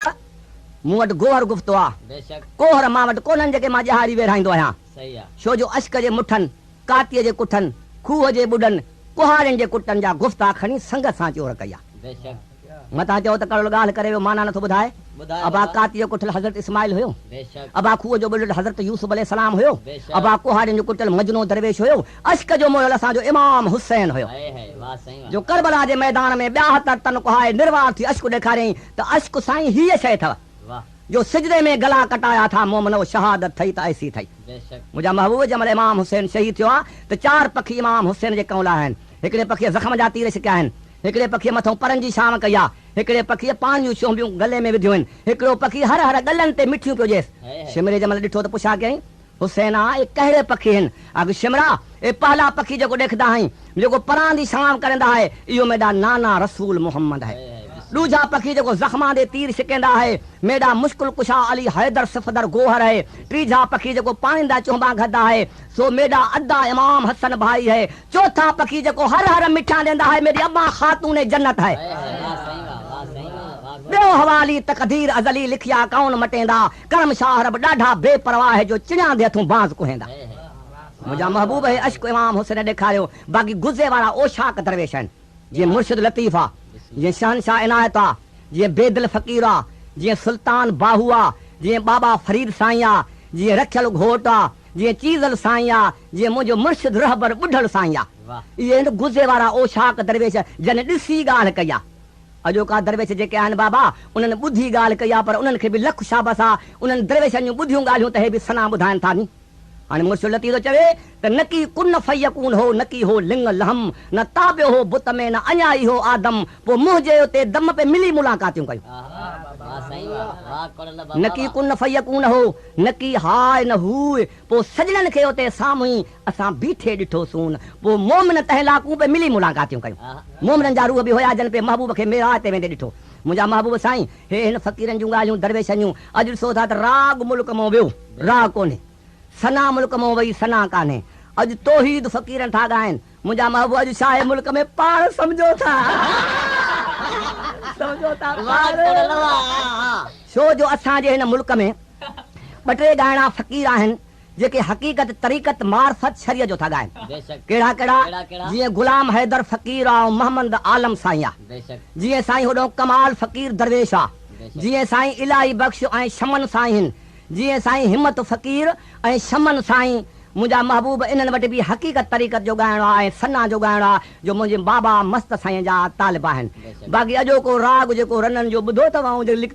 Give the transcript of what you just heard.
ته مون وٽ گوهر گفتو آ. ڪوهر مان وٽ ڪونهن جيڪي مان ڄهاري ويڙهائيندو آهيان. ڇو جو اشڪ جي مٺن، ڪاتيء جي ڪٺن، کوهه جي ٻڏن، ڪهاڙين جي ڪٽن جا گفتا کڻي سنگت سان چور ڪئي آ. متان چئو ته ڪڙول ڳالهه ڪري ويو معنيٰ نٿو ٻڌائي. ابا ڪاتيء جو ڪٺل حضرت اسماعيل هيو. ابا کوهه جو ٻڏل حضرت يوسف عليه السلام هيو. ابا ڪهاڙين جو ڪٽل مجنون درويش هيو. عشق جو موهيل اسان جو امام حسين هيو جو ڪربلا جي ميدان ۾ ٻياهتر تن ڪهائي نروار ٿي عشق ڏيکاريائين ته عشق سائين هيء شيء اٿئو جو سجدي ۾ گلا ڪٽايا ٿا مومنؤ شهادت ٿئي ته ايسي ٿئي منهنجا محبوب جنهن مهل امام حسين شهيد ٿيو آ ته چار پکي امام حسين جي ڪنئون لاهيا آهن هڪڙي پکيء زخم جا تير ڇڪيا آهن هڪڙي پکيء مٿئون پرن جي ڇانو ڪئي آ هڪڙي پکيء پاڻ جون شهنبيون گلي ۾ وڌيون آهن هڪڙو پکي هر هر ڳلن تي مٺيون پيو ڄيس شمري جنهن مهل ڏٺو ته پڇا ڪيائين حسين آء ڪهڙي پکي هن اڳ شمرا اي پهلا پکي جيڪو ڏيکدا هئين جيڪو پران دي سلام ڪريندا هئي اهو ميڊا نانا رسول محمد هئي ڏوجها پکي جيڪو زخمان دي تير شڪيندا هئي ميڊا مشڪل ڪشا علي حيدر صفدر گوهر هئي ٽيجها پکي جيڪو پاڻيندا چهنبان گهدا هئي سو ميڊا ادا امام حسن ڀائي هئي چوٿا پکي جيڪو هر هر مٺان ڏيندا هئي ميڊي اما خاتون جنت هئي ٻيو حوالي تقدير ازلي لکيا ڪون مٽيندا ڪرم شاهه رب ڏاڍا بي پرواهه جو چڻياندي هٿون باز ڪهيندا منهنجا محبوب هي عشق امام حسين ڏيکاريو باقي غزي وارا اوشاق درويش آهن جيئن مرشد لطيف آ جيئن شهنشاهه عنايت آ جيئن بيدل فقير آ جيئن سلطان باهو آ جيئن بابا فريد سائين آ جيئن رکيل گهوٽ آ جيئن چيزل سائين آ جيئن منهنجو مرشد رهبر ٻڍڙ سائين آ اهي هن غزي وارا اوشاق درويش جن ڏسي ڳالهه ڪئي آ اڄوڪا درويش جيڪي آهن بابا انهن ٻڌي ڳالهه ڪئي آ پر انهن کي به لک شابس آ انهن درويشن جون ٻڌيون ڳالهيون ته هي به سنا ٻڌائن ٿا ني هاڻي مرشد لطيف ٿو چوي ته نڪي ڪن فيڪون هو نڪي هو لنگ لهم نه تابيو هو بت ۾ نه اڃا ئي هو آدم پو منهجي اتي دم پي ملي ملاقاتيون ڪيون نڪي ڪن فيڪون هو نڪي هاء نه هوء پوء سڄڻن کي اتي سامهون ئي اسان بيٺي ڏٺوسون. پوء مومن تنهن لاڪون پي ملي ملاقاتيون ڪيون. مومنن جا روح به هيا جن پي محبوب کي معراج تي ويندي ڏٺو. منهنجا محبوب سائين! هي هن فقيرن جون ڳالهيون درويشن جون. اڄ ڏسو ٿا ته راڳ ملڪ مئون ويو، راڳ ڪونهي. ثنا ملڪ مئون وئي، ثنا ڪانهي. اڄ توحيد فقيرن ٿا ڳائن. منهنجا محبوب اڄ شاهه ملڪ ۾ پاڻ سمجهو ٿا سمجهو ٿا پاڻ ڇو جو اسان جي هن ملڪ ۾ ٻه ٽي ڳائڻا فقير آهن جيڪي حقيقت طريقت معرفت شريعت جو ٿا ڳائن ڪهڙا ڪهڙا جيئن غلام حيدر فقير آ ۽ محمد عالم سائين آ جيئن سائين هوڏهون ڪمال فقير درويش آ جيئن سائين الاهي بخش ۽ شمن سائين هن جيئن سائين همت فقير ۽ سمن سائين منهنجا محبوب انهن وٽ به حقيقت طريقت جو ڳائڻو آ ۽ ثنا جو ڳائڻو آ جو منهنجي بابا مست سائين جا طالب آهن باقي اڄوڪو راڳ جيڪو رنن جو ٻڌو اٿ وانهون جي لکتا